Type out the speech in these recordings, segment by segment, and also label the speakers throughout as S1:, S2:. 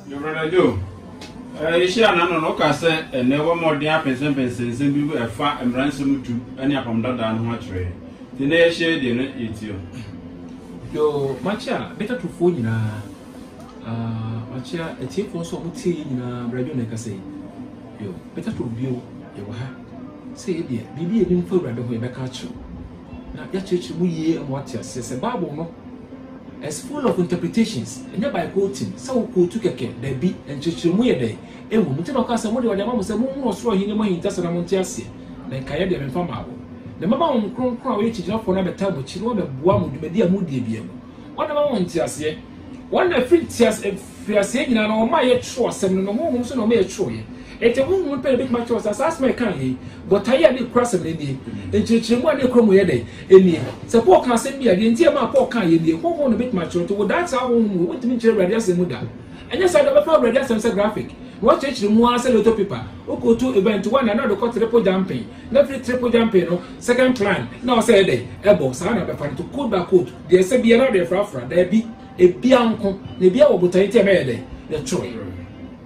S1: Your brother Joe,
S2: yɛhyia no ano no, woka sɛ ɛnɛ wɔ mmɔden apɛnsɛmpɛnsɛ nsɛm bi mu ɛfa mmara nsɛm du ne apam dadaa no ho akyerɛ yɛn. Nti na yɛhyɛ deɛ no yɛtie o. Yo,
S3: makyia Getatofoɔ nyinaa. Ah, makyia atiefoɔ nso a wɔtie yɛn nyinaa, Brɛ Joe na ɛkasa yi. Yo, Getato bio, yɛwɔ ha. Sɛ yɛ deɛ, biribi a yɛnim fa Awurade ho yɛbɛka akyerɛ wo. na yɛakyerɛkyerɛ mu yie ama wate aseɛ sɛ Bible no is full of interpretations ɛnyɛ by quoting sɛ wo quote kɛkɛ daabi nkyerɛkyerɛmu yɛ dɛn ɛwɔ mu nti na ɔka sɛ mode ɔde ama mo sɛ monhunu ɔsoro ahennie mu ahintasɛm na monte aseɛ na nkaeɛ deɛ memfa mmaa wo na mɛma Honhom Kronkron a ɔyɛ kyigyinafoɔ no abɛtaa mo akyi na wabɛboa mo dwumadi a moredie biara mu ɔde ma mo nteaseɛ Wɔn na firi ntease, mfiriaseɛ nyinaa no, wɔn a yɛtwerɛ asɛm no no, Honhom nso na wɔma yɛtwerɛeɛ. Enti Honhom no pɛ na ɛbɛtumi akyerɛ wɔ sɛ, saa asɛm a yɛka ha yi, botaeɛ a na ɛkura asɛm no nie, nkyerɛkyerɛmu a na ɛkura mu yɛ dɛn? nie. Sɛ Paul kaa asɛm bi a, deɛ enti a ɛmaa Paul kaaeɛ nie, Honhom na ɛbɛtumi akyerɛ. Nti wodaa saa Honhom wei, wontumi nkyerɛ Awurade asɛm mu da. Ɛnyɛ saa da, wobɛfa Awurade asɛm sɛ graphic, na woakyerɛkyerɛ mu ara sɛ lotto paper. Wokɔtu event one a, na wode kɔ triple jumping, na firi triple jumping no, second climb, na wɔ sɛ ɛyɛ dɛn? Ɛbɔ. Saa na wobɛfa no, to quote by quote. Deɛ ɛsɛ biara na yɛfrafra, daabi, ebia nko, na ebia wɔ botae nti a ɛma yɛyɛ dɛn? Yɛtwerɛe.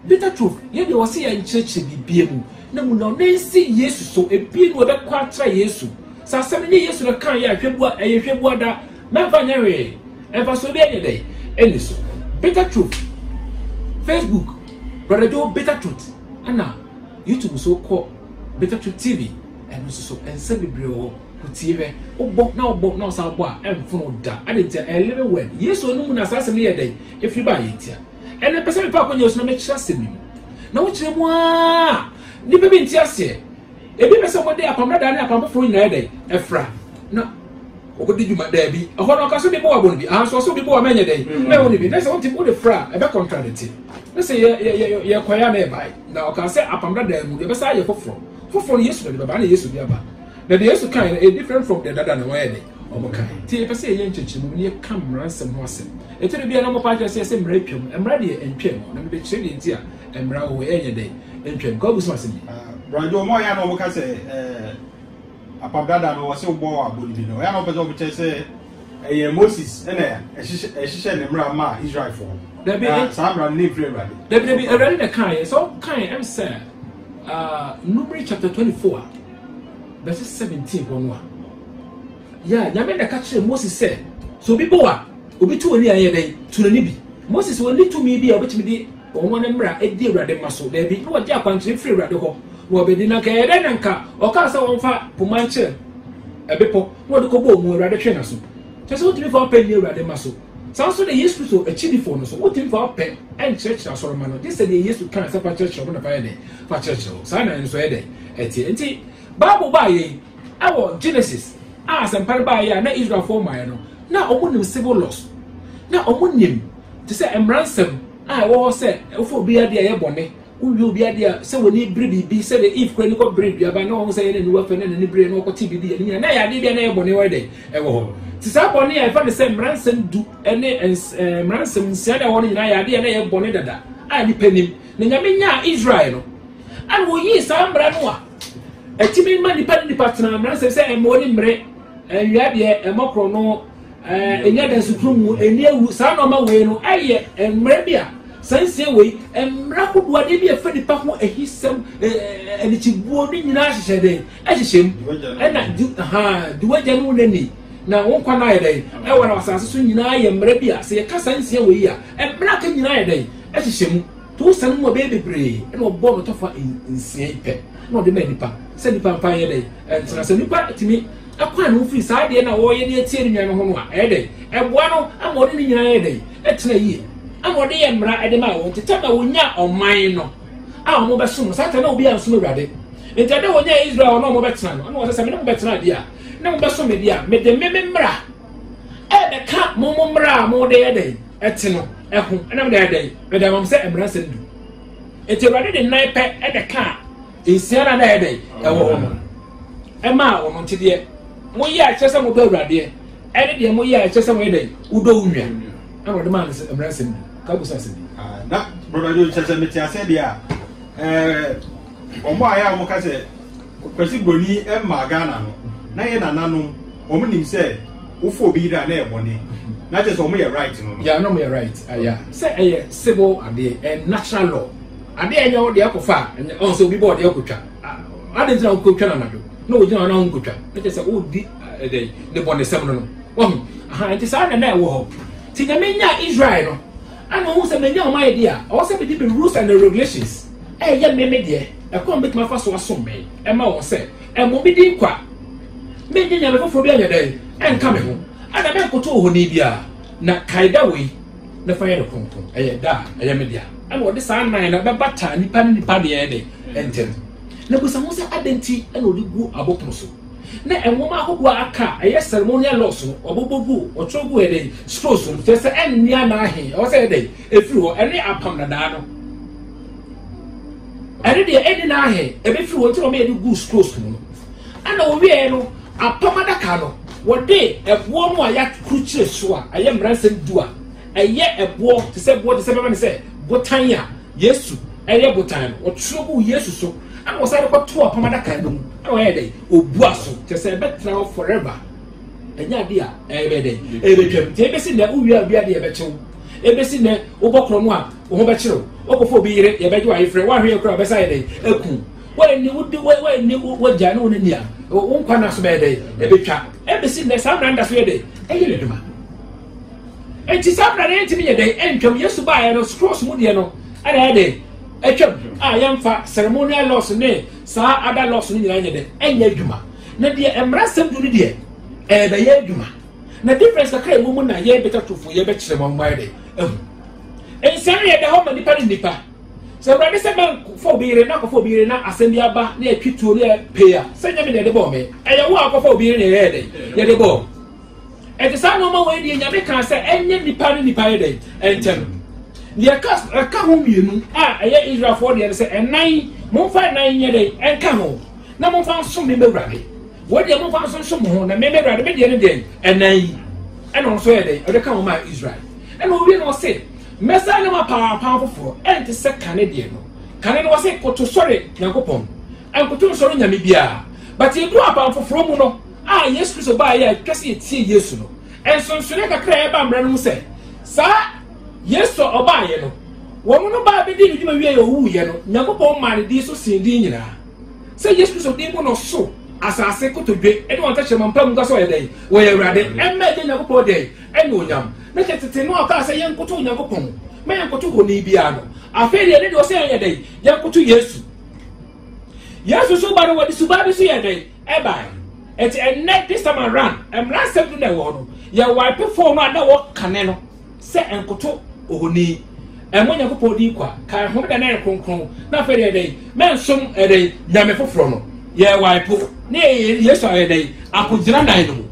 S3: Bitter Truth yɛ deɛ wɔse yɛnkyerɛkyerɛ biribiara mu, na mu na ɔnan si Yesu so, ebia ne wɔbɛkɔ akyerɛ Yesu. Sɛ asɛm no nyɛ Yesu na ɛkaeɛ a, hwɛ bua, ɛyɛ hwɛ bua da, na ɛmfa nyɛ hwee, mfasoɔ biara nyɛ dɛn? Ɛnni so. Bitter Truth, Facebook, Brother Joe Bitter Truth, ɛna YouTube nso kɔ Bitter Truth TV. Ɛno nso so, nsɛm bebree wɔ hɔ. Ko tie hwɛ. Wobɔ na wobɔ na wosan bɔ a, ɛmfono wo da. Adɛn ntia? Ɛyɛ living word. Yesu anom mu na saa asɛm no yɛɛ dɛn? Ɛfiri baeɛ. Ntia. Ɛnnɛ mepɛ sɛ mefa akɔnya su na mekyerɛ asɛm yi mu. Na wokyerɛ mu ara, nnipa bi nte aseɛ. Ebi pɛ sɛ wɔde apam dadaa ne apam foforɔ nyinaa yɛ dɛn? Ɛfra. Na wɔkɔdi dwuma daabi. Ɛhɔ no ɔka so bi bɔ abɔ no bi. Aha nso ɔso bi bɔ ama ɛnyɛ dɛn? Mm. Mɛwɔ no bi. Na sɛ wonte wode fra a, ɛbɛ contradicte. Na sɛ yɛkɔeɛ a na ɛbae. Na ɔka sɛ apam dadaa mu, yɛbɛsa ayɛ foforɔ. Foforɔ no Yesu na ɔde bɛba ɛna Yesu de aba. Na deɛ Yesu kae no, ɛyɛ different from deɛ dada na wɔyɛ de wɔn kae. Nti yɛpɛ sɛ yɛyɛ nkyɛkyerɛmu mu na yɛka mmara nsɛm ho asɛm. Ɛtɔ da bi a na wɔpa akyerɛ sɛ yɛsɛ mmara atwam. Mmara deɛ ɛntwam. Na mebɛkyerɛ deɛ nti a mmara wɔ hɔ ɛnyɛ dɛn ɛntwam. Kɔ abusua asɛm bi. Brajo, ɔmo a ɔyɛ a na
S4: ɔmo ka sɛ ɛɛ apam dada no ɔsɛ wobɔ abɔ no bi no ɔyɛ a na ɔpɛ sɛ ɔmo kyerɛ sɛ Ɛyɛ Moses na ɛhyehyɛ ne mmara maa Israelfoɔ. Dabi na saa mmara no ne mfiri Awurade. Dabi dabi Awurade na
S3: kan yɛ sɛ ɔkan yɛ ɛm sɛ ah, Numeri chapter twenty four verse seventeen hɔ no a. Yɛ a nyame na ɛka kyerɛ Moses sɛ sɛ obi bɔ a obi tu ani a ɛyɛ dɛ tu n'ani bi. Moses wɔn ne tumi bi a obetumi de wɔn ne mmara edi Awurade mma so dabi na wɔde akwankyerɛ firi Awurade hɔ na wɔbɛdi na nka ɛyɛ dɛ na nka ɔkaa sɛ wɔn fa poma nkyerɛ ɛbepɔ. na wɔde kɔbɔɔ mu, Awurade twee n'aso. Kyerɛ sɛ wotumi fa ɔpɛ nni Awurade mma so. Saa ara nso na Yesu Kristo akyidifo no nso, wotumi fa ɔpɛ nkyerɛkyerɛ asɔremma no, gye sɛ deɛ Yesu kae sɛ fa kyerɛkyerɛ wɔn na fa yɛ dɛn? Fa kyerɛkyerɛ wɔn. Saa na yɛn nso yɛ dɛn? Ɛteɛ. Enti, Bible baa yɛn ɛwɔ Genesis a asɛmpa no baa yɛ a na Israelfoɔ mmaeɛ no, na wɔn nim civil laws, na wɔn nim te sɛ mmaransɛm a ɛwɔ hɔ sɛ wofa obi adeɛ a ɛyɛ bɔne. Wowie obi ade a, sɛ w'ani bere biribi, sɛdeɛ Eve kora ani kɔberee duaba na wahu sɛ ɛyɛ n'aniwa fɛ na n'ani beree na ɔkɔte biribi yɛ ne nyina, na ɛyɛ adeɛ bi a na ɛyɛ bɔne wɔ dɛn ɛwɔ hɔ. Nti saa bɔne a ɛfa no sɛ mmaransɛm du ne mmaransɛm nsia na ɛwɔ hɔ no nyinaa yɛ adeɛ a na ɛyɛ bɔne dada a nnipa nim. Na Nyame nyaa Israel no, ɛna wɔyii saa mmara no a ɛtumi ma nnipa ne nnipa tena mmaransɛm sɛ ɛmmɔ ne mmere, ɛnwia deɛ, ɛmmɔ korɔno, ɛnyɛ dɛ nso kurom mu ani awu saa nneɛma wei no ɛyɛ mmerɛ bi a saa nsia wei mmerɛ ahodoɔ adeɛ bi a ɛfa nipa ho ahisɛm anikyibuo ne nyinaa hyehyɛ dɛ ɛhyehyɛ mu ɛna di ha di wagya ne wo n'ani na wo nkwa no ayɛ dɛn ɛwɔ na asase so nyinaa yɛ mmerɛ bi a sɛ yɛka saa nsia wei a mmerɛ aka nyinaa yɛ dɛn ɛhyehyɛ mu to wo sane mu a bɛyɛ bebree ɛna ɔbɔ no tɔfa nsia yi pɛ na ɔde ma nipa sɛ nipa mfa yɛ dɛn ɛntena sɛ nipa tumi kwan a wofii saa adeɛ no a wɔreyɛ de atia ne nua no ho no a, ɛyɛ dɛn? Ɛboa no ma ɔne ne nyinaa yɛɛ dɛn? Ɛtena yie. Ɛna ɔde yɛɛ mmara de maa wɔn. Nti tam a wɔnyaa ɔman no a wɔbɛsom no, saa tam na obiara nsom Awurade. Nti ɛda wɔnyaa Israel ɔno a wɔbɛtena no, ɛna wɔsɛ sɛ me ne mo bɛtena adeɛ a, ne mo bɛsom me deɛ a, mede me me mmara ɛbɛka mo mo mmara a mode yɛ dɛn ɛte no ɛho ɛna mede ayɛ dɛn mede ama mo sɛ mmara nsɛm du. Nti Awurade de nan pɛ ɛna kaa Nsia no a na ɛyɛ dɛn ɛwɔ hɔ no, ɛmaa wɔn ntedeɛ moyɛ a ɛkyerɛ sɛ modɔ awuradeɛ ɛne deɛ moyɛ a ɛkyerɛ sɛ moyɛ dɛn wodɔ wo nua ɛna wɔde maa no mmara nsɛm bi ka busa asɛm bi. Ah, na broda
S4: jo kyerɛ sɛ mete asɛ deɛ a eh, wɔn a yɛ a wɔka sɛ kwasi buroni mmaa ghana no na yɛ nananom wɔn nim sɛ wofo obi yiri a na yɛ bɔne na kyerɛ sɛ wɔn yɛ right no. yɛ anam yɛ right
S3: ɛyà sɛ ɛyɛ civil adeɛ ɛ natural law. Ade a ɛnyɛ wo deɛ kɔfa a, ɛnyɛ ɔn sɛ obi bɔ ɔdeɛ kɔtwa. Ade nti na wokɔtwa no anadwo na wɔgyina hɔ na wonkɔtwa. Na kyerɛ sɛ wodi ɛdɛn ne bɔnesɛm no no. Wahu? Aha, nti saa na na ɛwɔ hɔ. Nti Nyame nyaa Israel no, ana ɔhu sɛ manya wɔn ayɛ deɛ a, ɔwɔ sɛ mede me rules and regulations ɛyɛ me me deɛ, ɛkwan a mɛtumi afa so asom me, ɛma wɔn sɛ, ɛmmɔ me din kwa. Mennye nyame foforɔ bi anyɛ dɛn, ɛnka me ho. Ana mɛnkoto ohoni biara. Na kaeda wei, na fa yɛ no kronkron ɛyɛ da a ɛyɛ me dea ɛna ɔde saa nan no bɛbata nipa ne nipa deɛ de ntɛm na busa ho sɛ adɛn nti ɛna ɔde gu abopono so na nwoma ahodoɔ a aka ɛyɛ ceremonial laws no ɔbobɔ gu ɔtwerɛ gu ɛdɛn scrolls no kyerɛ sɛ ɛnne anaahe ɛwɔ sɛ ɛdɛn ɛfiri hɔ ɛne apam nadaa no ɛne deɛ ɛnne naahe ɛbɛfiri hɔ nti na ɔmɛyɛ de gu scrolls mu no Ɛnna wɔwieeɛ no, apam adaka no, wɔde ɛboɔ no a yɛakrukyire so a ɛyɛ mmaransɛm du a ɛyɛ ɛboɔ te sɛ boɔ te sɛ bɛma ne sɛ botan a Yesu ɛyɛ botan no, wɔtwerɛ guu Yesu so, ɛnna wɔsan de kɔtoo apam adaka no mu, ɛnna wɔyɛ dɛn? Wɔbua so, kyerɛ sɛ ɛbɛtena hɔ forever. Ɛnyɛ adeɛ a ɛbɛyɛ dɛn? Ɛbɛtwam. Nti ɛbɛsi nnɛ wowie a wia deɛ ɛbɛkyew. Ɛbɛsi nnɛ wobɔ korɔ no a, wo ho bɛkyerɛ wo. Wokɔfa obi yere, yɛbɛgye wo ayefrɛ, woanhwɛ yɛ koraa a, ɔbɛsan ayɛ dɛn? Aku. Woanni wo de, woanni w'agya ne wo ne nea wo nkwa nna so bɛyɛ dɛ ɛbɛtwa. Ɛbɛsi nnɛ saa mmara no da so yɛ dɛ ɛyɛ ne dwuma. Enti saa mmara no yɛntumi yɛ dɛ ɛntwam. Yesu baeɛ no scrolls mu deɛ no ɛna ɛyɛ dɛ ɛtwam a yɛmfa ceremonial laws ne saa ada laws no nyinaa nyɛ dɛ ɛnyɛ adwuma. Na deɛ mmara nsɛm du no deɛ ɛbɛyɛ adwuma. Na difference kakra ɛwɔ mu na yɛbɛtwa tofo yɛbɛkyerɛ ma ɔmo ayɛ dɛ ɛhu. Nsa no yɛ da hɔ ma nipa ne nipa. Sɛ Awurade sɛ mɛnkɔfa obi yere na akɔfa obi yere na asɛm bi aba na yɛtwe tuo na yɛpee a, sɛ nyɛ me na yɛde bɔɔ me. Ɛyɛ wo a akɔfa obi yere na yɛyɛ dɛn? Yɛde bɔɔ. Ɛte saa nneɛma wei deɛ Nyame kaa sɛ ɛnyɛ nnipa ne nnipa yɛ dɛn? Ɛnkyɛ no. Deɛ ɛka ɛka ho mmienu a ɛyɛ Israelfoɔ deɛ no sɛ ɛnan momfa ɛnan nyɛ dɛn? Ɛnka ho na momfa nsom me m'Awurade. Wei deɛ momfa nso nsom ho na me m'Awurade me deɛ no deɛ ɛnan yi ɛna ɔno nso yɛ dɛn? Ɔde ka ho maa Israel. Ɛna owie na ɔse Mɛsan ne mo apam apam foforɔ, ɛnte sɛ kane deɛ no. Kane no wɔse koto sɔre Nyankopɔn, ɛnkoto nsɔre onyame biara. But yɛduru apam foforɔ mu no a Yesu Kristo baeɛ a ɛtwa sɛ yɛtie Yesu no. Nsonsonoɛ kakra a ɛba mmara no mu sɛ, saa Yesu a ɔbaeɛ no, wɔn no baa bɛdii ne dwuma wieɛ a ɔwuuiɛ no, Nyankopɔn maa ne din so sen din nyinaa. Sɛ Yesu Kristo din mu no soro, asase, kotodwe, ne wɔn tɛkyerɛma mpamu ka sɛ ɔyɛ dɛn? Wɔyɛ Awurade. Ɛmma agya Nyankopɔn dɛn? anuonyam. Ne tete no a ɔkaa sɛ yɛnkoto Onyankopɔn na yɛnkoto honi biara no, afei deɛ ne deɛ ɔsɛ yɛnyɛ dɛn? Yɛnkoto Yesu. Yesu so ba no wɔde suban bi so yɛ dɛn? Ɛbae. Eti ɛnnɛ this time around, mmara nsɛm du na ɛwɔ hɔ no, yɛ wipe phone no a na wɔkane no sɛ nkoto ohoni. Ɛmmɔ Onyankopɔn din kwa, kae homeda na ɛyɛ kronkron, na afei deɛ dɛn? Mɛnsom ɛdɛn? Nyame foforɔ no. Yɛ wipe ne Yesu ayɛ dɛn? Akogyina nan no mu.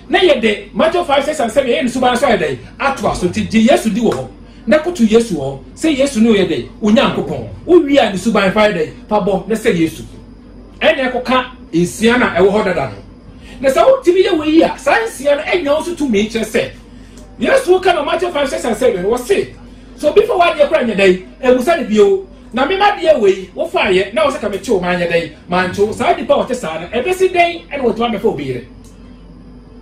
S3: Na yɛde Mateo five six and seven yɛyɛ ne suban so ayɛ dɛn? Atoa so. Nti gye Yesu di wɔ hɔ, na koto Yesu wɔ hɔ sɛ Yesu ne ɔyɛ dɛn? Onyankopɔn. Wo wie a ne suban fa yɛ dɛn? Fa bɔ na sɛ Yesu. Ɛna ɛkɔka nsia no a ɛwɔ hɔ dada no. Na sɛ wotumi yɛ wei a, saa nsia no anya wo so tumi kyerɛ sɛ Yesu woka no Mateo five six and seven wɔ se sɛ obi fa w'adeɛ kora nyɛ dɛn? Ɛmusa ne bio. Na me madeɛ wei wofaeɛ na wɔ sɛ ka mekyew manyɛ dɛn? Mankyew. Saa nipa a ɔte saa no ɛbɛsi dɛn na watumi abɛfa obi yere?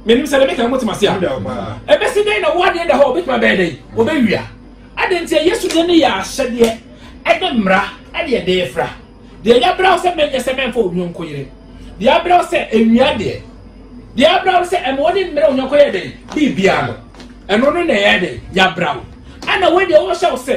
S3: menim sɛ bɛbɛka motem ase a ɛbɛsi dɛn na wo adeɛ da hɔ wobɛtumi abɛyɛ dɛn wɔbɛwia ade nti a yesu deɛ no yɛ ahyɛdeɛ ɛne mmara ɛne ɛde ɛfra deɛ yɛabrɛ wo sɛ mɛnyɛ sɛ mɛmfa onyɔnko yere deɛ abrɛ wo sɛ ɛwia deɛ deɛ abrɛ wo sɛ ɛma wo ne mmerɛ onyɔnko yɛ dɛn biribiara no ɛno no na ɛyɛ dɛn yɛabrɛ wo ɛna wodeɛ wɔhyɛ wo sɛ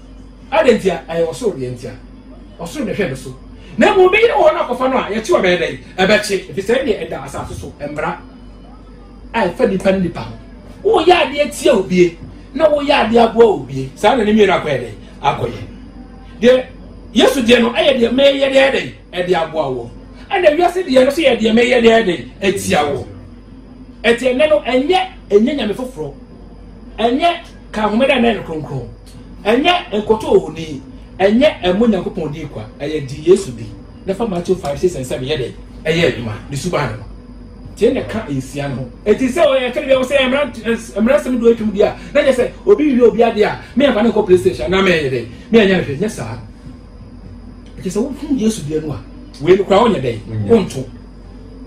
S3: Adɛn ntia? Ɛyɛ ɔsoro deɛ ntia. Ɔsoro na ɛhwɛ ne so. Na mmom obi yere wɔ hɔ no akɔfa no a, yɛkye ɔbɛyɛ dɛn? Ɛbɛkye, ɛfiri sɛ ɛnneɛ ɛda asase so mmara a ɛfa nipa ne nipa ho. Woyɛ adeɛ tia obie na woyɛ adeɛ aboa obie. Saa na ne mmienu akɔyɛ dɛn? Akɔyɛ. Deɛ Yesu deɛ no ɛyɛ deɛ mɛyɛ deɛ dɛn? Ɛde aboa wɔ. Ɛna wiase deɛ no so yɛ deɛ mɛyɛ deɛ dɛn? Ɛtia wɔ. Ɛti ɛnɛ no ɛnyɛ ɛnyɛ nyame foforɔ. Ɛnyɛ ka ahomeda na ɛyɛ no kronkron. Ɛnyɛ nkoto ohoni, ɛnyɛ ɛmmɔ Nyankopɔn din kwa, ɛyɛ di Yesu di, na fa Matthew 5, 6 and 7 yɛ dɛn? Ɛyɛ adwuma, ne suban no ho. Tie na ka nsia no ho. Ɛti sɛ ɔyɛ ɛka bia sɛ mmara nsɛm do atwam di a, na nyɛ sɛ obi wie obi ade a, me ɛmfa ne nkɔ police station na mɛyɛ dɛn? Me ɛnyɛ nhwɛ, nyɛ saa. Ɛkyɛ sɛ wohu Yesu deɛ no a, wei no kora wonyɛ dɛn? Mm. Wonto.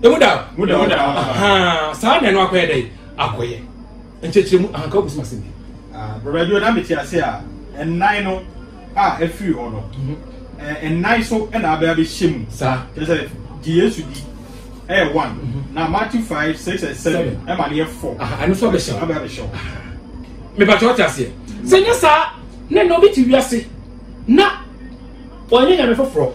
S3: Emu da? Mu da. Saa na ɛno akɔyɛ dɛn? Akɔyɛ. Nkyerɛkyerɛmu, Ahanka wobɛsom asɛm bi? Brɔda Joe, na
S4: mete ase a nnan no a afiri hɔ no, nnan so na abɛ abɛhyɛ mu. Saa. Kyerɛ sɛ,
S3: gye
S4: Yesu di ɛyɛ one, mhm. na Matthew five, six and seven ɛma no yɛ four. Aha, ɛno so abɛhyɛ wo. Abɛ
S3: abɛhyɛ wo.
S4: Mebatwa
S3: ɔte aseɛ. Sɛ nyɛ saa, ne na obi te wiase na ɔnyɛ nyame foforɔ,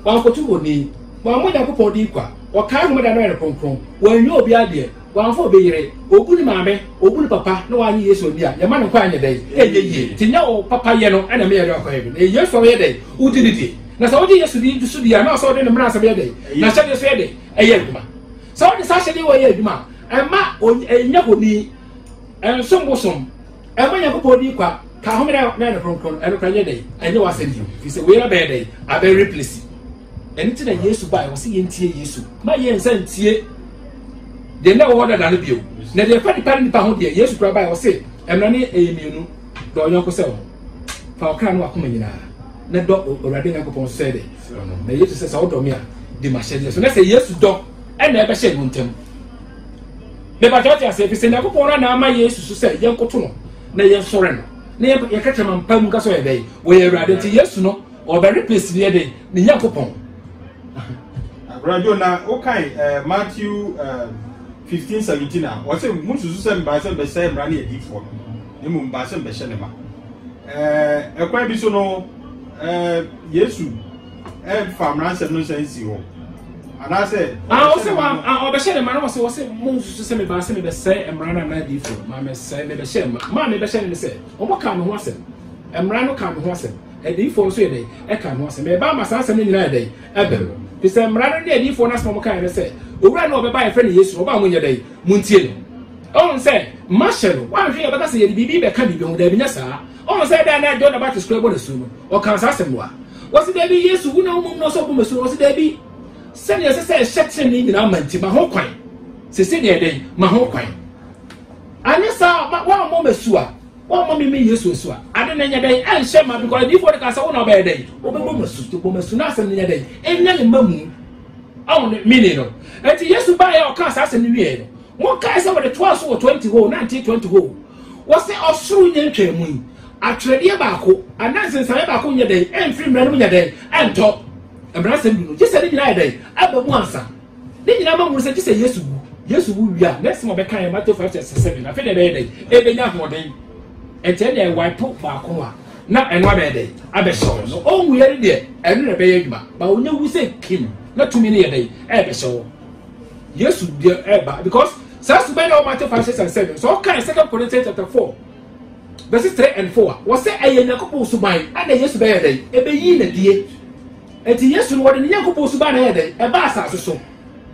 S3: wankoto wɔn ni, wɔn mo Nyankopɔn di kwa, ɔkae homeda no yɛ no kronkron, wɔnyɛ obi adeɛ. Wamfa obi yere, obu ne maame, obu ne papa na wanye Yesu anni a, yɛma no kwan nyɛ dɛn? Ɛnyɛ yie. Nti nyɛ wo papayɛ no na ɛma yɛde ɔkwan bi, na ɛyɛ Yesu a woyɛ dɛn? Wodi ne die. Na sɛ wogye Yesu di so die a, na ɔsɛ wode ne mmaransɛm yɛ dɛn? N'ahyɛdeɛ so yɛ dɛn? Ɛyɛ adwuma. Sɛ wode saa ahyɛdeɛ wɔ yɛ adwuma a, ɛmma ɛnyɛ honi, ɛnsom bosom, ɛmma Nyankopɔn din kwa, ka ahome na ne kronkron, ɛno kora nyɛ dɛn? Ɛnyɛ w'asɛm bio, firi sɛ wei abɛyɛ dɛn? Abɛreplesi. Ɛno nti na Yesu bae. Wɔsi yɛn tie Yesu. Ma yɛn nsa ntie deɛ na wɔwɔ dada no bio. Na deɛ ɛfa nipa ne nipa ho deɛ Yesu kura bae wɔsi ɛmira ne ɛyɛ mmienu dɔ ɔyɔnko sɛ wɔn fa ɔkra no wakoma nyinaa na dɔ Awurade Nyankopɔn sɛ de na Yesu sɛ sɛ ɔdɔ me a di m'ahyɛdeɛ so na sɛ Yesu dɔ ɛna ɛbɛhyɛ wɔn ntam. Bɛbata ɔte ase efi sɛ Nyankopɔn na na ama Yesu so sɛ yɛn koto no na yɛn sɔre no na yɛn yɛkɛkyɛ ma mpa mu nka sɛ ɔyɛ dɛ wɔyɛ Awurade nti Yesu no Ɔbɛre pɛsiniɛ dɛ ne Nyankopɔn.
S4: Bra Joe na wokan eh, Matthew eh, 15 17 a wɔsɛ mususu sɛ mbaa sɛ mbɛsɛe mmara ne adiifoɔ no na mmom mbaa sɛ mbɛhyɛ ne ma eh, ɛkwan bi so no eh, Yesu ɛmfa mmara nsɛm no nsa nsi hɔ anaasɛ ah, ɔsɛ wa ah,
S3: ɔbɛhyɛ ne ma na wɔsɛ wɔsɛ mo nsusu sɛ mebaa sɛ mebɛsɛe mmara no anaa adiifo ma mesɛe mebɛhyɛ ma ma mebɛhyɛ ne ne sɛ ɔmɔ kaa me ho asɛm mmara no kaa me ho asɛm Adiyifoɔ nso yɛ dɛn? Ɛka ne ho asɛm. Ɛreba ama saa asɛm no nyinaa ayɛ dɛn? Aba mu. Ɛfiri sɛ mmara no ne adiyifoɔ no asɛm a wɔkaeɛ ne sɛ, Owura no a ɔbɛba a yɛfrɛ no Yesu no, ɔba a monyɛ dɛn? Montie no. Ɔhu sɛ mahyɛ no. Woanhwɛ yɛ a ɔbɛka sɛ yɛde biribi rebɛka biribi ho. Daabi, nyɛ saa. Ɔhu sɛ da a na John the Baptist kura bɔ n'asu no, ɔkaa saa asɛm no a. Wɔse, Daabi, Yesu, wo na wo mmom na ɔsɛ ɔbɔ m'asu no. Ɔse, Daabi. Sɛdeɛ ɛsɛ sɛ ɛhyɛ tenenee nyinaa ma nti, ma ho kwan. Seesei deɛ yɛ dɛn? Ma ho kwan. Anyɛ saa a, woammɔ m'asu a, Wɔmma me me Yesu asu a, ade na ɛnyɛ dɛn ɛnhyɛ ma because adiifoɔ no ka sɛ wo na ɔbɛyɛ dɛn wobɛbɔ mu asu to bɔ mu asu na asɛm no nyɛ dɛn ɛnya ne ma mu ɔho ne mini no ɛnti Yesu baeɛ a ɔkaa saa asɛm no wieɛ no monkae sɛ wɔde toaa so wɔ 20 hɔ 1920 hɔ wɔ sɛ ɔsoro nyɛ ntwaa mu yi atwerɛdeɛ baako anaa nsensameɛ baako nyɛ dɛn ɛmfiri mmerɛ no mu nyɛ dɛn ɛntɔ mmaransɛm du no gye sɛ ne nyinaa yɛ dɛn aba mu ansa Ne nyinaa ma hunu sɛ gye sɛ Yesu wu. Yesu wu wie a, next time ɔbɛka yɛ Matthew five verse seven. Afei na ɛbɛyɛ dɛn? Ɛbɛnya ahoɔden. Ɛkyɛ deɛ ɛwaepo baako no a, na ɛno abɛyɛ dɛn? Abɛhyɛ wɔn. So ɔnwu yɛ no deɛ, ɛno na ɛbɛyɛ adwuma. Ba onye wu sɛ kim, na tumi no yɛ dɛn? Ɛbɛhyɛ wɔn. Yesu deɛ ɛba because saa suban na wɔ Matthew five six and seven. So ɔka second Corinthians chapter four verses three and four. Wɔsɛ ɛyɛ Nyankopɔn suban ɛna Yesu bɛyɛ dɛn? Ɛbɛyi n'adie. Enti Yesu no, wɔde ne Nyankopɔn suban na ɛyɛ dɛn? Ɛbaa asase so.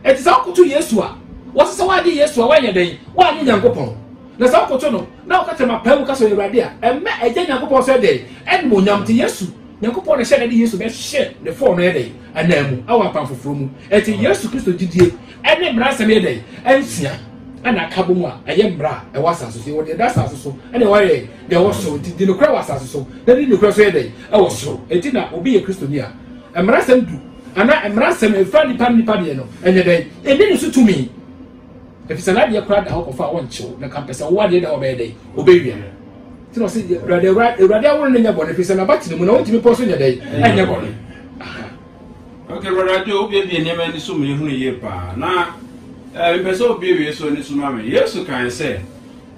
S3: Enti sɛ wokoto Yesu a, wɔsɛ sɛ woagye Yesu a woanyɛ dɛn? Woannye Nyankopɔn. Na sɛ wokoto no, na woka kyerɛ mapaa mu ka sɛ ɔyɛ Awurade a, ɛmmɛ Agya Nyankopɔn sɛ dɛn? Animuonyam. Enti Yesu, Nyankopɔn na ɛhyɛ na ɛde Yesu bɛhyɛ ne fɔɔ no yɛ dɛn? Anaa mu, ɛwɔ apam foforɔ mu. Enti Yesu Kristo gyidie ɛne mmara nsɛm yɛ dɛn? Ɛnsia ɛna akabɔ mu a ɛyɛ mmara a ɛwɔ asase so. Yɛwɔ deɛ ɛda asase so ɛne ɛwɔ yɛ Deɛ ɛwɔ soro nti, di nokorɛ wɔ asase so, na di nokorɛ nso yɛ dɛn? Ɛwɔ soro. Enti na obi yɛ Kristoni a, mmaransɛm du anaa mmaransɛm a ɛfa nnipa ne nnipa deɛ no, ɛnyɛ dɛn? Ɛnni ne so tumi. Ɛfiri sɛ n'adeɛ koraa da hɔ kɔfa a wɔnkyew, na kampɛ sɛ wo adeɛ da hɔ bɛyɛ dɛn? Ɔbɛwia no. Nti na ɔse, Awurade, Awurade aworo no nyɛ bɔne, ɛfiri sɛ n'abatene mu na wɔntumi pɔ so nyɛ dɛn? Ɛnyɛ bɔne.
S2: Ok, Awurade, wobiebie nneɛma ani so ma ɛhunu yie paa. Na mepɛ sɛ wobiebie so ani so ma me. Yesu kae sɛ,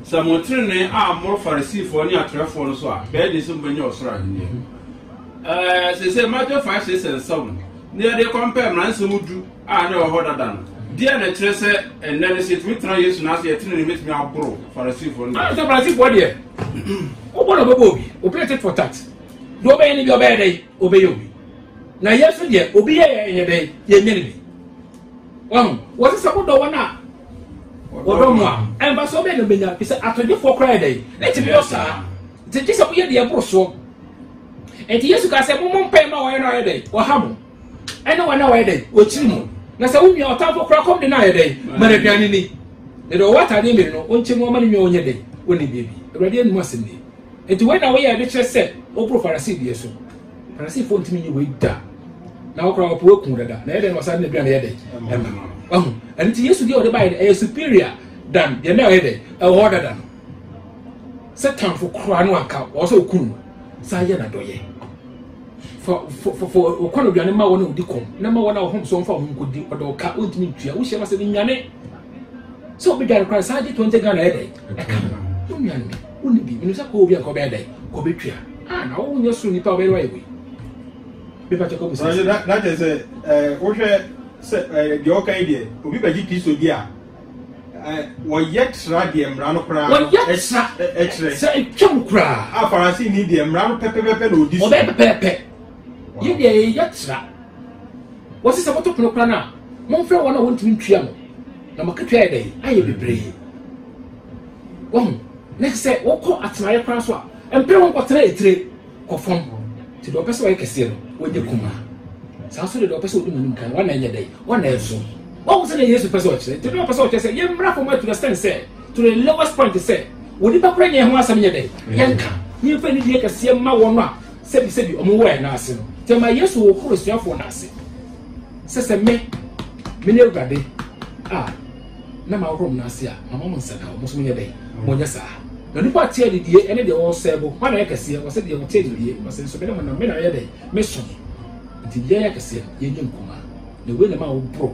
S2: Sɛ motrenee ammoro Fariseefoɔ ne atwerɛfoɔ no so a, bɛyɛ den sɛ mobɛnya ɔsoro ahennie. Ɛɛ, seesei Matthew 5 se sɛ nsa mu na yɛde kɔmpɛɛ mmara nsɛm du a na ɛwɔ hɔ dada no. Deɛn na ɛkyerɛ sɛ ɛnnɛ no sɛ yɛtumi tena Yesu nan ase a yɛn tenenee bɛtumi aboro Fariseefoɔ no? Ɛwom sɛ Fariseefoɔ deɛ,
S3: wobɔ na wɔbɛbɔ obi, obi tit for tat. Deɛ ɔbɛyɛ no bi ɔbɛyɛ dɛn? Ɔbɛyɛ obi. Na yɛn nso deɛ, obi yɛ yɛn yɛ dɛn? Yɛnyɛ no bi. Wahu? Wɔse sɛ modɔ wɔn a wɔdɔ mo a, ɛmfa sɛ ɔbɛn na ɔbɛnya, fi sɛ atɔgyefoɔ koraa yɛ dɛn? Ne tumi yɔ saa. Nti gye sɛ moyɛ deɛ ɛboro soɔ. Nti Yesu kaa sɛ mommɔ mpae ma wɔn a wɔyɛ dɛn? Wɔha mo. Ɛne wɔn a wɔyɛ dɛn? Wɔkyiri mo. Na sɛ wo nua ɔtamfo koraa kɔm de no ayɛ dɛn? Ma no aduane ni. Na deɛ ɔwɔ ataadeɛ mmienu no, ɔnkyɛ mu ɔma ne nua ɔnyɛ dɛn? Ɔnni biribi. Awurade anom asɛm nie. Nti wei na woyɛ de kyerɛ sɛ woboro Farisee deɛ so. Farisifo ntumi nye wei da. Na wɔkora wɔpɛ wɔakum dada. Na ɛyɛ dɛn na wɔsan de aduan ɛyɛ dɛn ɛma no. Wahu? Ɛno nti Yesu deɛ wɔde baeɛ no ɛyɛ superior dan deɛ na ɛyɛ dɛn ɛwɔ hɔ dada no. Sɛ tamfo koraa no anka wɔn sɛ wɔku no saa yɛ n'adɔyɛ. Fa fa fa fa wɔkɔ no aduane ma wɔn a wɔdi kɔm na ma wɔn a wɔhom so wɔmfa wɔn nkɔdi ɔdɔ ɔka wɔntumi ntua wohyia no sɛ ne nwane sɛ wɔbɛdwane koraa saa gye 20 Ghana ɛyɛ dɛn ɛka no. Wo nwane. Wonni bi. Menim sɛ kɔ obi a nka ɔbɛyɛ dɛn? Nka ɔbɛtwa. Ah, na wo nyɛ so nipa a ɔbɛyɛ no ayɛ wei. Me pakyɛ kɔ mu sɛ. Ɔyɛ na kyɛ sɛ
S4: eh, wohwɛ sɛ eh, deɛ ɔka yi deɛ obi bɛgye Kristo di a eh, wɔyɛ tra deɛ mmara no koraa wɔyɛ tra
S3: ɛkyerɛ sɛ ɛtwam koraa. A Farasi ni deɛ
S4: mmara no pɛpɛpɛpɛ na ɔdi so. Ɔbɛyɛ pɛpɛɛpɛ.
S3: Yɛ deɛ yɛyɛ tra. Wɔsi sɛ moto pono koraa no a, momfrɛ wɔn a wɔntumi ntua no. Na makatua yɛ dɛn? Ayɛ bebree. Wahu? Na te sɛ wokɔ atenaeɛ koraa so a, mpere ho kɔtena etire kɔ fam. Nti deɛ ɔpɛ sɛ ɔyɛ kɛseɛ no, wɔnyɛ kumaa. Saa nso de deɛ ɔpɛ sɛ ɔdi mu anim kan no, wɔn na ɛnyɛ dɛ, wɔn na ɛso. Wahu sɛdeɛ Yesu pɛ sɛ ɔkyerɛ? Nti na ɔpɛ sɛ ɔkyerɛ sɛ yɛmmra fam to the extent sɛ, to the lowest point sɛ, onipa koraa nyɛ yɛn ho asɛm nyɛ dɛ, yɛnka, na yɛmfa anidie kɛseɛ mma wɔn a sɛbisɛbi wɔn wɔ yɛn nan ase no. Nti ɛma Yesu hohoro asuafoɔ no ase sɛ, sɛ me, mene Awurade a, na mahohoro mo nan ase a, mama mo nsa ka, mo nso monyɛ dɛn? Monyɛ saa. Na onipa a ɔte anidie ne deɛ ɔresɛe bo, hwan na ɔyɛ kɛseɛ? Ɔse deɛ ɔte anidie, ɔse nso, me ne mo nam, me na meyɛ dɛn? Meso mo. Nti deɛ ɛyɛ kɛseɛ no, yɛnyɛ nkumaa. Na wei na ɛma wɔboro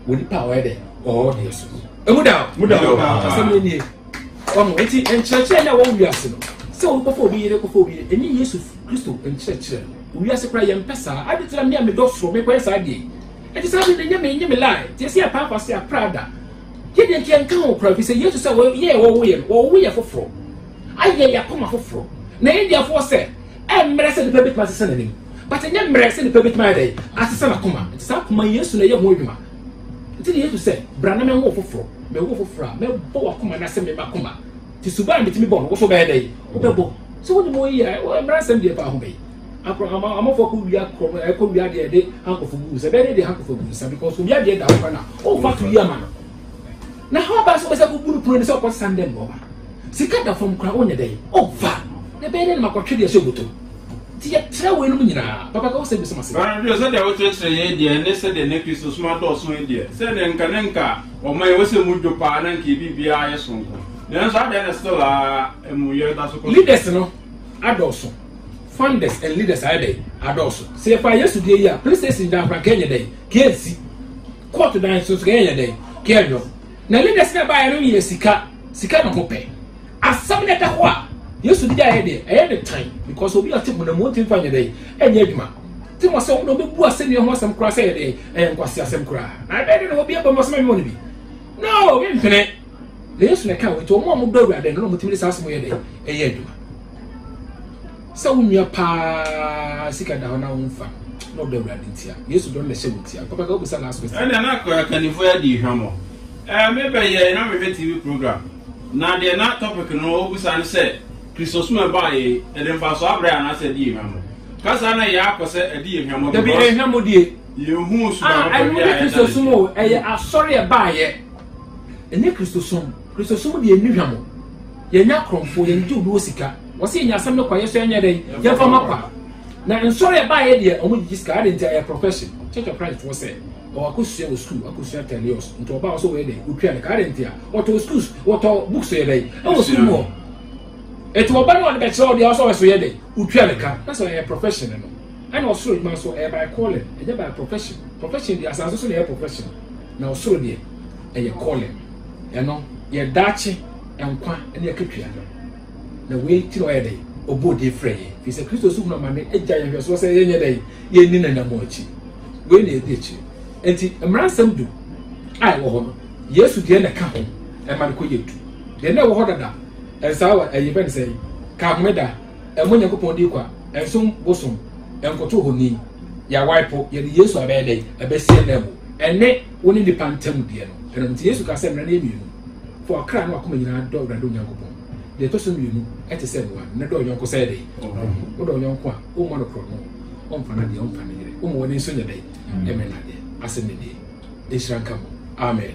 S3: wɔ nipa a ɔyɛ dɛn? Ɔwɔ deɛ so no. Emu da o! Muda o! Asɛm no nie. Ɔho, enti nkyerɛkyerɛ no a wɔwɔ wiase no, sɛ obi kɔfa obi yere, kɔfa obi yere, ɛnyɛ Yesu Kristo nkyerɛkyerɛ no. Wɔ wiase koraa yɛmpɛ saa. Ade nti na me a medɔ soro, mekɔyɛ saa deɛ yi? Enti saa bere no, ɛnyɛ me, ɛnyɛ me lie. Nti ɛsɛ yɛ paapa se a prada. Yɛ deɛ nti yɛ nka ho kora. Fisɛ Yesu sɛ wɔyɛ yɛ wɔwo yɛ no, wɔwo yɛ foforo. Ayɛ yɛ akoma foforo. Na India foɔ sɛ, ɛmmerɛ sɛ nipa betumi asesa n'anim. But ɛnyɛ mmerɛ sɛ nipa betumi ayɛ dɛ, asesa n'akoma. Nti saa akoma yi, Yesu na ɛyɛ ho adwuma. Nti na Yesu sɛ, bra na mɛwo foforo. Mɛwo foforo a, mɛbɔ w'akoma na sɛ me m'akoma. Nti suban a metumi bɔ no, wo so bɛyɛ dɛ, wobɛbɔ. So wonim oyi a, mmeransɛm deɛ ɛfa ho bɛyi. Abraham amafo kɔ wia kɔ ɛ kɔ wia deɛ de hankɔfo gu nsa bɛyɛ de hankɔfo gu nsa because obi adeɛ da hɔ na ɔnfa to wia ma no na ha ɔbaa so bɛsɛ kɔ bu no pono ne sɛ ɔkɔ san dɛm nɔɔma sika da fam kora ɔnyɛ dɛn ɔnfa na bɛyɛ de no ma kɔtwe deɛ hyɛ bɔtɔ mu ti yɛ kyerɛ wɔ enum nyinaa papa ka wɔ sɛ bi soma se. Bɛrɛ sɛ deɛ wokyerɛkyerɛ
S2: yɛ deɛ ne sɛ deɛ ne kristo soma dɔɔso yɛ deɛ sɛ deɛ nka ne nka ɔma yɛ wɔ sɛ mu dwo paa na nka ebi biara yɛ sonko nanso adeɛ na still a ɛmu yɛ da so kɔ. Leaders no adɔɔso. Funders and leaders ayɛ dɛn adɔɔso. Sɛ yɛfa Yesu deɛ yi a, police station dan koraa kɛnyɛ dɛn kɛnsi, court dan nso nso kɛnyɛ dɛn kɛnyɔ. Na leaders na ɛbaeɛ no yɛ sika, sika na ɔmo pɛ. Asɛm na ɛda hɔ a Yesu de ayɛ deɛ ɛyɛ ne tan because obi a ɔte mu na mu ɔntumi fa nyɛ dɛn ɛnyɛ adwuma. Ti mo sɛ wɔn na ɔbɛbu asɛnnua ho asɛm koraa sɛ yɛ dɛn ɛyɛ nkwasi asɛm koraa. Na ɛbɛyɛ dɛn na obi abɔ mu asɛm ɛnyɛ wɔn bi. No, obi mpene. Na Yesu na ɛka wɔn nti wɔn a wɔdɔ awurade no na wɔtumi de saa asɛm yɛ dɛn ɛyɛ adwuma. Sɛ wo nua paa sika da hɔ na womfa na ɔdɔ Awurade nti a, Yesu dɔ no na ɛhyɛ wo ntia. Papa ka wobisa last question. Ɛnna na akannifoɔ yi adi hwammɔ. Ɛɛ, mebɛyɛe na mehwɛ TV program, na deɛ na topic no wɔbisa ne sɛ, Kristo som a ɛbaa yɛn yi, ɛde mfasoɔ abrɛ yɛn anaasɛ ɛdi yɛn hwammɔ? Ka saa na ɛyɛ ara kɔ sɛ ɛdi yɛn hwammɔ Dabi, ɛyɛ because hwammɔ die.
S3: yɛnhuu suma Ah,
S2: papa ɛno bi a nyɛ ɛda Kristo som n'akyi.
S3: o, ɛyɛ asɔre a ɛbaeɛ. Ɛnyɛ Kristo som. Kristosom deɛ ɛnni hwam o. Yɛnyɛ akorɔmfoɔ, yɛngye obi hɔ sika. Wɔse yɛnya asɛm no kwa, yɛso yɛnyɛ dɛn? Yɛmfa mma kwa. Na nsɔre a ɛbaeɛ deɛ, wɔgyegye sika. Adɛn nti? Ɛyɛ profession. Church of Christ foɔ sɛ, ɔwɔ akɔsua wɔ school, akɔsua teleos, nti ɔba a ɔsɛ ɔyɛ dɛn? Ɔtua ne ka. Adɛn nti a? Wɔtɔɔ schools, wɔtɔɔ books yɛ dɛn? Ɛwɔ school mu hɔ. Ɛti ɔba no a ɔde bɛkyerɛ ɔdeɛ ɔsɛ ɔyɛ so yɛ dɛn? Ɔtua ne ka. Na sɛ ɛyɛ profession no, ɛna ɔsoro adwuma nso, ɛyɛ by calling, ɛnyɛ by profession. Profession deɛ, asase so na ɛyɛ profession. Na ɔsoro deɛ, ɛyɛ calling. Ɛno, yɛ daakye nkwa ne akatua no. Na wei nti na ɔyɛ dɛn? Ɔbɔɔ din frɛɛ yɛn. Ɛfiri sɛ Kristo so hunu amane agya yɛn nhwɛsoɔ sɛ yɛnyɛ dɛn? Yɛnni n'anammɔn akyi. Wei na yɛdi akyire. Enti mmaransɛm du a ɛwɔ hɔ no, Yesu deɛ na ɛka ho ma no kɔyɛ du. Deɛ na ɛwɔ hɔ dada, ɛnsaa wɔ, ɛyɛ bɛn sɛn? Ka Homeda. ɛmmɔ Nyankopɔn din kwa, ɛnsom bosom, ɛnkoto honi, yɛawae po, yɛde Yesu abɛyɛ dɛn? Abɛsi ananmu. Ɛne wo ne nnipa ntam deɛ no. Ɛno nti Yesu kaa sɛ mmara no yɛ mmienu, Fa ɔkra ne w'akoma nyinaa dɔ Awurade wo Nyankopɔn. Deɛ ɛtɔ so mmienu te sɛ ɛnoa, ne dɔ wo yɔnko sɛ dɛn? Wo ho. Wodɔ wo yɔnko a, wommɔ no korɔno, wommfa no adeɛ, wommfa no yere, woma w'ani nso nyɛ dɛn? Ɛmɛ no adeɛ. Asɛm no nie. Nhyira
S1: nka mo.
S3: Amen.